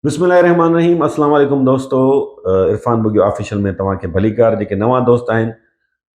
بسم الله الرحمن الرحيم السلام عليڪم دوستو عرفان بگيو آفيشل ۾ توهان کي ڀلي ڪار جيڪي نوان دوست آهن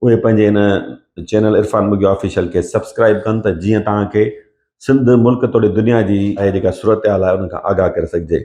اهي پنهنجي ان چينل عرفان بگيو آفيشل کي سبسڪرائب ڪن ته جيئن توهان کي سنڌ ملڪ توڙي دنيا جي اهي جيڪا صورتحال آهي ان کان آگاهه ڪري سگهجي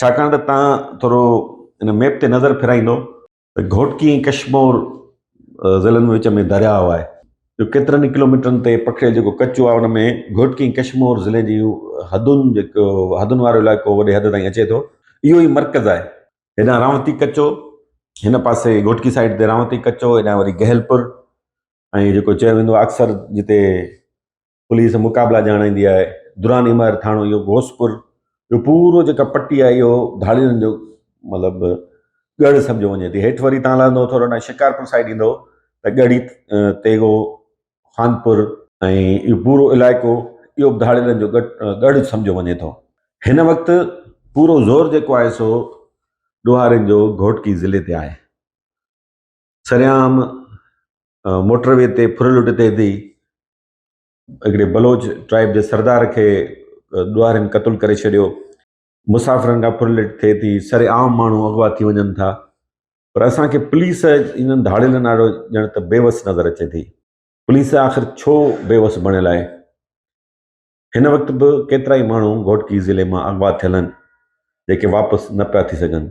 ڇاڪاڻ ته تان ٿورو ان ميپ تي نظر ڦيرائيندو ته گهوٽڪي ۽ ڪشمور ضلعن ۾ وچ ۾ درياء آهي جو ڪيترن ئي ڪلوميٽرن تي پکڙيل جيڪو ڪچو آهي ان ۾ گهوٽڪي ۽ ڪشمور ضلعي جي حدون جيڪو حدن وارو علائقو وڏي حد تائين اچي ٿو اهو ئي مرڪز آهي هيڏانهن رانوتي ڪچو هن پاسي گهوٽڪي سائيڊ تي رانوتي ڪچو هيڏانهن وري گهيلپور ۽ جيڪو چيو ويندو آهي اڪثر جتي پوليس مقابلا ڄاڻائيندي آهي دوران عمائر ٿاڻو اهو غوثپور جو پورو جيڪا پٽي آهي اهو ڌاڙيلن جو مطلب ڳڙ سمجھو وڃي ٿي هيٺ وري تان لهندو ٿورو ڏانهن شڪارپور سائيڊ ايندو ته ڳڙي تيغو خانپور ۽ اهو پورو علائقو اهو به ڌاڙيلن جو ڳڙ سمجھو وڃي ٿو هن وقت پورو زور جيڪو آهي سو ڏوهارين جو گهوٽڪي ضلعي تي آهي سريام موٽر وي تي ڦر لٽي ٿي هڪڙي بلوچ ٽرائيب جي سردار کي ڏوهارين قتل ڪري ڇڏيو مسافرن کان ڦرلٽ ٿئي ٿي سر عام ماڻهو اغوا ٿي وڃن ٿا پر اسان کي پوليس انهن ڌاڙيلن آڏو ڄڻ ته بيوس نظر اچي ٿي پوليس آخر ڇو بيوس بڻيل آهي هن وقت به ڪيترا ئي ماڻهو گهوٽڪي ضلعي مان اغوا ٿيل آهن جيڪي واپس نه پيا ٿي سگهن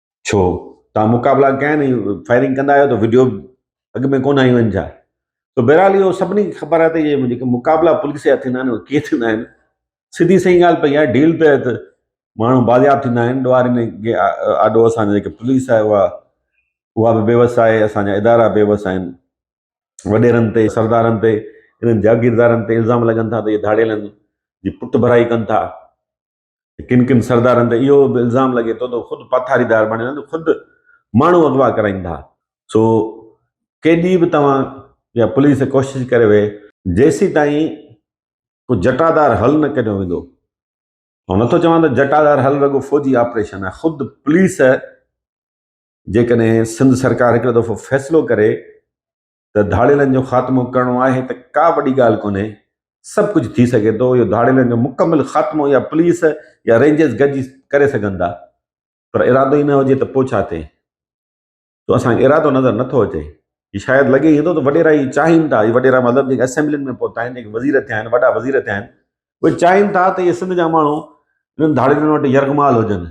ڇو تان مقابلا ڪيا آهن ۽ فائرنگ ڪندا آهيو ته وڊيو اڳ ۾ ڪونه آيون آهن ڇا تو بهرحال اهو سڀني کي خبر آهي ته اهي جيڪي مقابلا پوليس جا ٿيندا آهن اهي ڪيئن ٿيندا آهن سڌي سئي ڳالهه پئي آهي ڊيل تحت ماڻهو بازياب ٿيندا آهن ڏوهارين جي آڏو اسان جيڪي پوليس آهي اها اها به بيوس آهي اسانجا ادارا بيوس آهن وڏيرن تي سردارن تي انهن جاگيردارن تي الزام لڳن ٿا ته اهي ڌاڙيلن جي پٽ ڀرائي ڪن ٿا ڪن ڪن سردارن تي اهو به الزام لڳي ٿو ته خود پاٿاريدار بڻيل آهن خود ماڻهو اغوا ڪرائين ٿا سو ڪيڏي به توهان يا پوليس ڪوشش ڪري وي جيسي تائين ڪو جٽادار حل نه ڪڍيو ويندو آئون نٿو چوان ته جٽادار حل رڳو فوجي آپريشن آهي خود پوليس جيڪڏهن سنڌ سرڪار هڪڙو دفعو فيصلو ڪري ته ڌاڙيلن جو خاتمو ڪرڻو آهي ته ڪا وڏي ڳالهه ڪونهي، سڀ ڪجهه ٿي سگهي ٿو، اهو ڌاڙيلن جو مڪمل خاتمو يا پوليس يا رينجرز گڏجي ڪري سگهن ٿا، پر ارادو ئي نه هجي ته پوء ڇا ٿئي؟ سو اسان کي ارادو نظر نه ٿو اچي. هي شايد لڳي ائين ٿو ته وڏيرا هي چاهين ٿا، هي وڏيرا مطلب جيڪي اسيمبلين ۾ پهتا آهن، جيڪي وزير ٿيا آهن، وڏا وزير ٿيا آهن، اهي چاهين ٿا ته اهي سنڌ جا ماڻهو انهن ڌاڙيلن وٽ يرغمال هجن.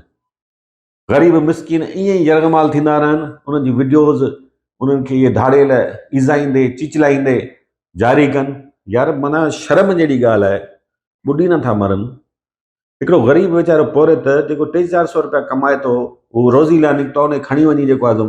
غريب مسڪين ائين ئي يرغمال ٿيندا رهن انهن جي وڊيوز انهن کي اهي ڌاڙيل ايذائيندي چيچلائيندي جاري ڪن يار معنيٰ شرم جهڙي ڳالهه آهي ٻڏي نٿا مرن هڪڙو غريب ويچارو پورهيت جيڪو ٽي چار سؤ روپيا ڪمائي ٿو هو روزي لاء نڪتو آهي ان کي کڻي وڃي جيڪو آهي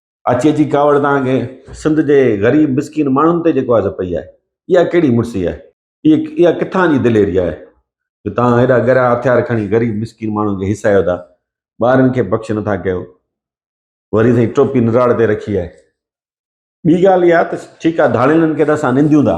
اچي اچي ڪاوڙ توهان کي سنڌ جي غريب مسڪين ماڻهن تي جيڪو آهي پئي آهي اها ڪهڙي مڙسي آهي اها اها ڪٿان جي دليري آهي جو توهان هيڏا ڳرا هٿيار کڻي غريب مسڪين ماڻهن کي هيسايو ٿا ٻارن کي بخش نٿا ڪيو وري سائين ٽوپي نراڙ تي رکي آهي ٻي ڳالهه اها ته ٺيڪ آهي ڌاڙيلن کي ته اسان ننديون ٿا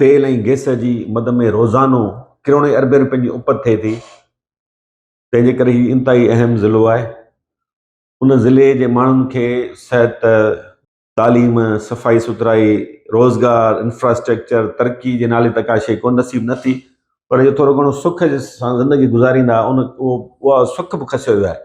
تيل ۽ گئس جي مد ۾ روزانو ڪروڙين اربين روپين جي اپت ٿئي ٿي تنهنجي ڪري هي انتهائي اهم ضلعو آهي ان ضلعي جي ماڻهن کي صحت تعليم صفائي سٿرائي روزگار انفراسٽرڪچر ترقي جي نالي ته ڪا شيء ڪو نصيب نه ٿي پر جو ٿورو گهڻو سک سان زندگي گذاريندا ان اهو سک به کسيو ويو آهي